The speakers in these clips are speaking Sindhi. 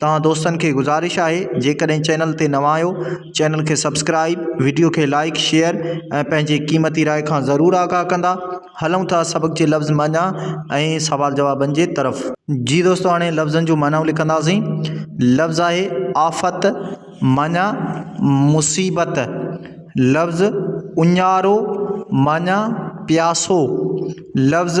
توهان دوستن کي گذارش آهي جيڪڏهن چينل تي نوان آهيو چينل کي سبسڪرائيب وڊيو کي لائيڪ شيئر ۽ پنهنجي قيمتي راء کان ضرور آگاهه ڪندا هلون ٿا سبق جي لفظ معنيٰ ۽ سوال جوابن جي طرف. جي دوستو هاڻي لفظن جون معنائون لکنداسين لفظ آهي آفت معنيٰ مصيبت لفظ اڃارو معنيٰ پياسو لفظ.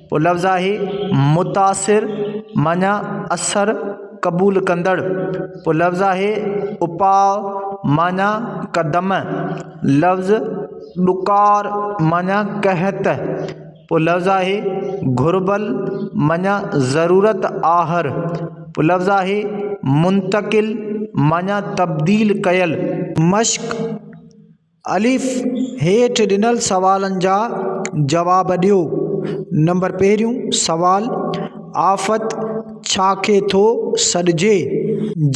اهو لفظ آهي متاثر معنيٰ اثر قبول ڪندڙ اهو لفظ آهي اپاء معنيٰ قدم لفظ ڏڪار معنيٰ قحط اهو لفظ آهي گهربل معنيٰ ضرورت آهر اهو لفظ آهي منتقل معنيٰ تبديل ڪيل مشق الف، هيٺ ڏنل سوالن جا جواب ڏيو. نمبر پهريون سوال، آفت ڇا کي ٿو سڏجي؟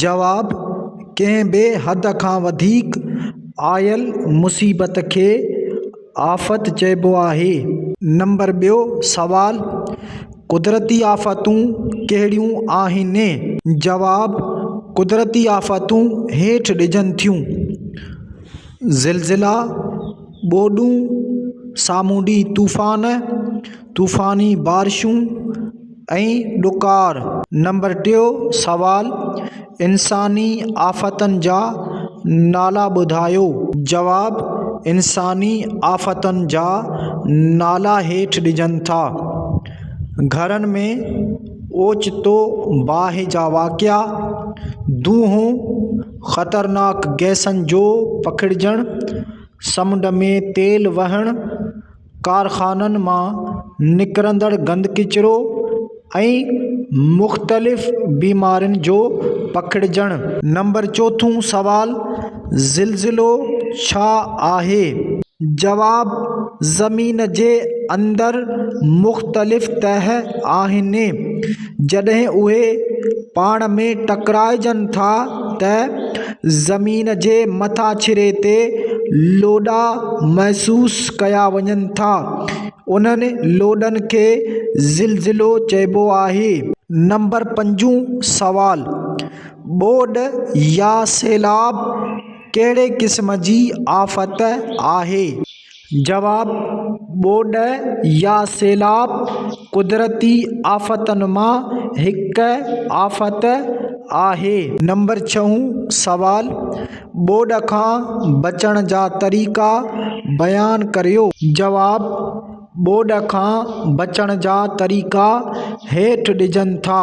جواب، ڪنهن بي حد کان وڌيڪ آيل مصيبت کي آفت چئبو آهي. نمبر ٻيو سوال، قدرتي آفتون ڪهڙيون آهن؟ جواب، قدرتي آفتون هيٺ ڏجن ٿيون. زلزلا، ٻوڏون، سامونڊي طوفان، طوفاني بارشون ۽ ڏڪار. نمبر ٽيون سوال، انساني آفتن جا نالا ٻڌايو. جواب، انساني آفتن جا نالا هيٺ ڏجن ٿا، گهرن ۾ اوچتو باهه جا واقعا، دونهون، خطرناڪ گئسن جو پکڙجڻ، سمنڊ ۾ تيل وهڻ، ڪارخانن مان نڪرندڙ گند ڪچرو ۽ مختلف بيمارين جو پکڙجڻ. نمبر چوٿون سوال، زلزلو ڇا آهي؟ جواب، زمين جي اندر مختلف تهه آهن. جڏهن اهي پاڻ ۾ ٽڪرائجن ٿا ته زمين جي مٿاڇري تي لوڏا محسوس ڪيا وڃن ٿا انهن لوڏن کي زلزلو چئبو آهي نمبر پنجون سوال ٻوڏ يا سيلاب ڪهڙي قسم جي آفت آهي؟ جواب، ٻوڏ يا سيلاب قدرتي آفتن مان هڪ آفت آهي. نمبر ڇهون سوال، ٻوڏ کان بچڻ جا طريقا بيان ڪريو. جواب، ٻوڏ کان بچڻ جا طريقا هيٺ ڏجن ٿا.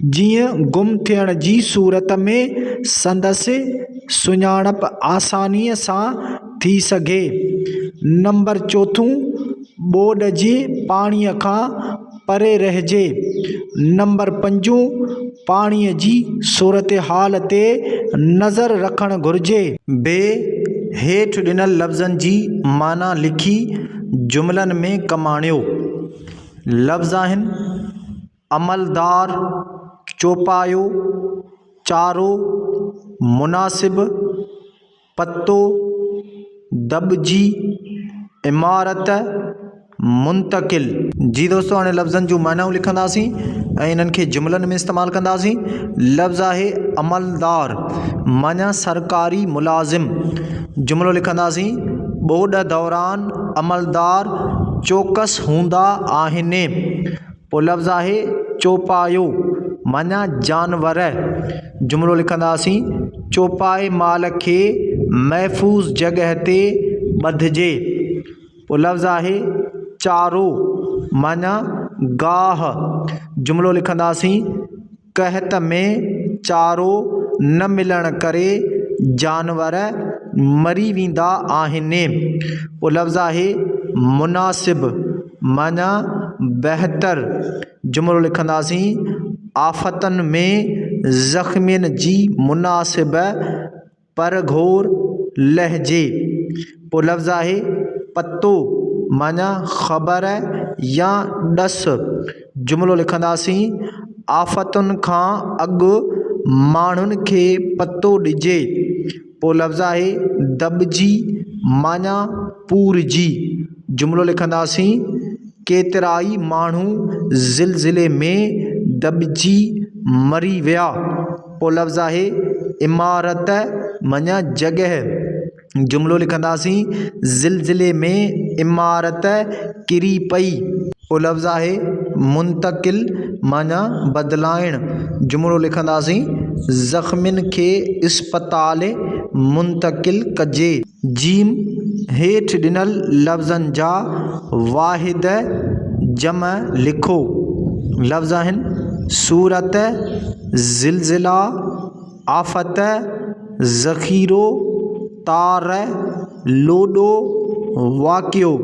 جيئن گم ٿيڻ جي صورت ۾ سندس سڃاڻپ آسانيء سان ٿي سگهي. نمبر چوٿون، ٻوڏ جي پاڻيء کان پري رهجي. نمبر پنجون، پاڻيء جي صورتحال تي نظر رکڻ گهرجي. ب، هيٺ ڏنل لفظن جي معنيٰ لکي جملن ۾ ڪم آڻيو. لفظ آهن. عملدار چوپايو چارو مناسب پتو دٻجي عمارت منتقل. جي دوستو هاڻي لفظن جون معنائون لکنداسين ۽ انهن کي جملن ۾ استعمال ڪنداسين. لفظ آهي عملدار معنيٰ سرڪاري ملازم. جملو لکنداسين، ٻوڏ دوران عملدار چوڪس هوندا آهن. پوء لفظ آهي چوپايو معنيٰ جانور. جملو لکنداسين، چوپائي مال کي محفوظ جڳهه تي ٻڌجي. پوء لفظ آهي چارو معنيٰ گاهه. جملو لکنداسين، قحط ۾ چارو نه ملڻ ڪري جانور مري ويندا آهن. پوء لفظ آهي مناسب معنيٰ بهتر جملو لکنداسين، آفتن ۾ زخمين جي مناسب پر گهور لهجي پو لفظ آهي پتو معنيٰ خبر يا ڏس. جملو لکنداسين، آفتن کان اڳ ماڻهن کي پتو ڏجي پو لفظ آهي دٻجي معنيٰ پورجي. جملو لکنداسين، ڪيترائي ماڻهو زلزلي ۾ دٻجي مري ويا پو لفظ آهي عمارت مڃ جڳهه جملو لکنداسين زلزلي ۾ عمارت ڪري پئي پو لفظ آهي منتقل مڃ بدلائڻ جملو لکنداسين زخمين کي اسپتال منتقل ڪجي. جيم، هيٺ ڏنل لفظن جا واحد جمع لکو. لفظ آهن، صورت، زلزلا، آفت، ذخيرو، تار، لوڏو، واقعو.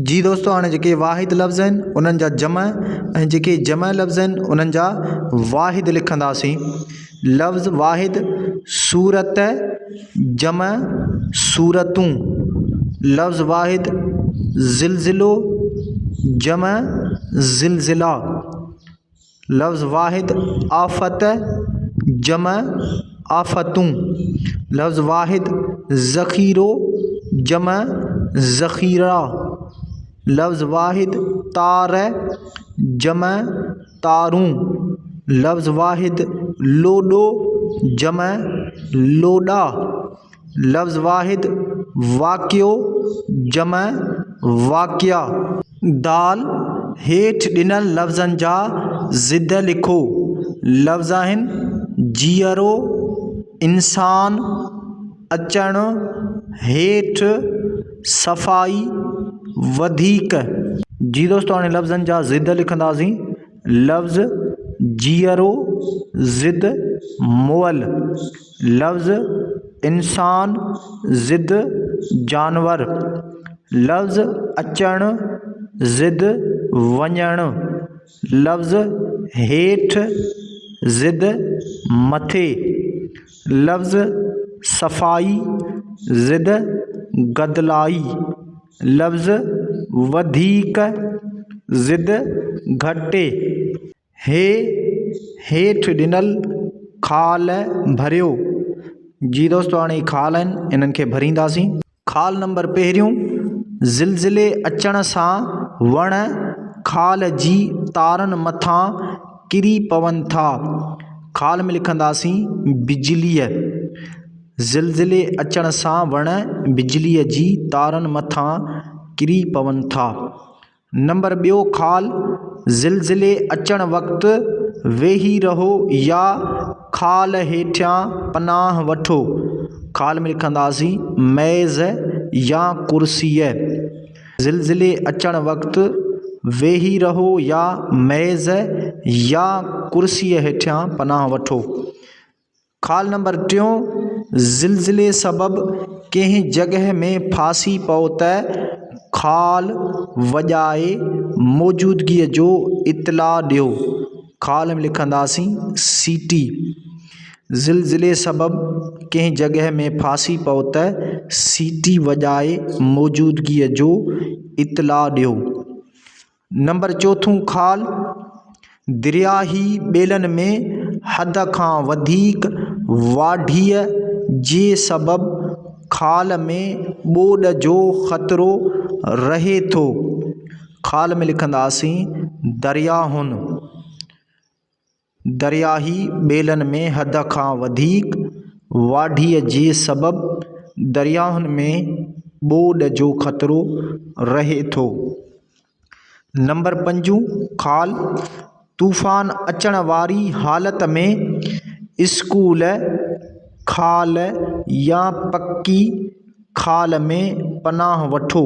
جي دوستو هاڻي جيڪي واحد لفظ آهن انهن جا جمع ۽ جيڪي جمع لفظ آهن انهن جا واحد لکنداسين. لفظ واحد صورت جمع صورتون، لفظ واحد زلزلو جمع زلزلا، لفظ واحد آفت جمع آفتون، لفظ واحد ذخيرو جمع ذخيرا، لفظ واحد تار جمع تارون، لفظ واحد، لوڏو، جمع، لوڏا، لفظ واحد، واڪيو، جمع، واڪيا. دال، هيٺ ڏنل لفظن جا ضد لکو. لفظ آهن، جيئرو، انسان. اچڻ هيٺ صفائي وڌيڪ. جي دوستو هاڻي لفظن جا ضد لکنداسين لفظ جيئرو ضد مئل لفظ انسان ضد جانور لفظ اچڻ ضد وڃڻ لفظ هيٺ ضد مٿي لفظ صفائي ضد گدلائي لفظ وڌيڪ ضد گهٽي هي هيٺ ڏنل خال ڀريو جي دوستو هاڻي خال آهن هنن کي ڀرينداسين. خال نمبر پهريون، زلزلي اچڻ سان وڻ خال جي تارن مٿان ڪري پون ٿا. خال ۾ لکنداسين بجليء، زلزلي اچڻ سان وڻ بجليء جي تارن مٿان ڪري پون ٿا. نمبر ٻيو خال، زلزلي اچڻ وقت ويهي رهو يا خال هيٺيان پناهه وٺو. خال ۾ رکنداسين ميز يا ڪرسيء. زلزلي اچڻ وقت ويهي رهو يا ميز يا ڪرسيء هيٺيان پناهه وٺو. خال نمبر ٽيون، زلزلي سبب ڪنهن جڳهه ۾ ڦاسي پئو ته خال وڄائي موجودگي جو اطلاع ڏيو. خال ۾ لکنداسين سي ٽي. زلزلي سبب ڪنهن جڳهه ۾ ڦاسي پئو ته سي ٽي وڄائي موجودگي جو اطلاع ڏيو. نمبر چوٿون خال، درياهي ٻيلن ۾ حد کان وڌيڪ واڍيء جي سبب خال ۾ ٻوڏ جو خطرو رهي ٿو. خال ۾ لکنداسين درياهن. درياهي ٻيلن ۾ حد کان وڌيڪ واڍي جي سبب درياهن ۾ ٻوڏ جو خطرو رهي ٿو. نمبر پنجون خال، طوفان اچڻ واري حالت ۾ اسڪول خال يا پڪي خال ۾ پناهه وٺو.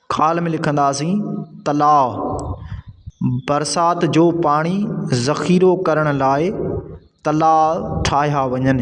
خال ۾ لکنداسين تلاء برسات جو پاڻي ذخيرو ڪرڻ لاء تلاء ٺاهيا وڃن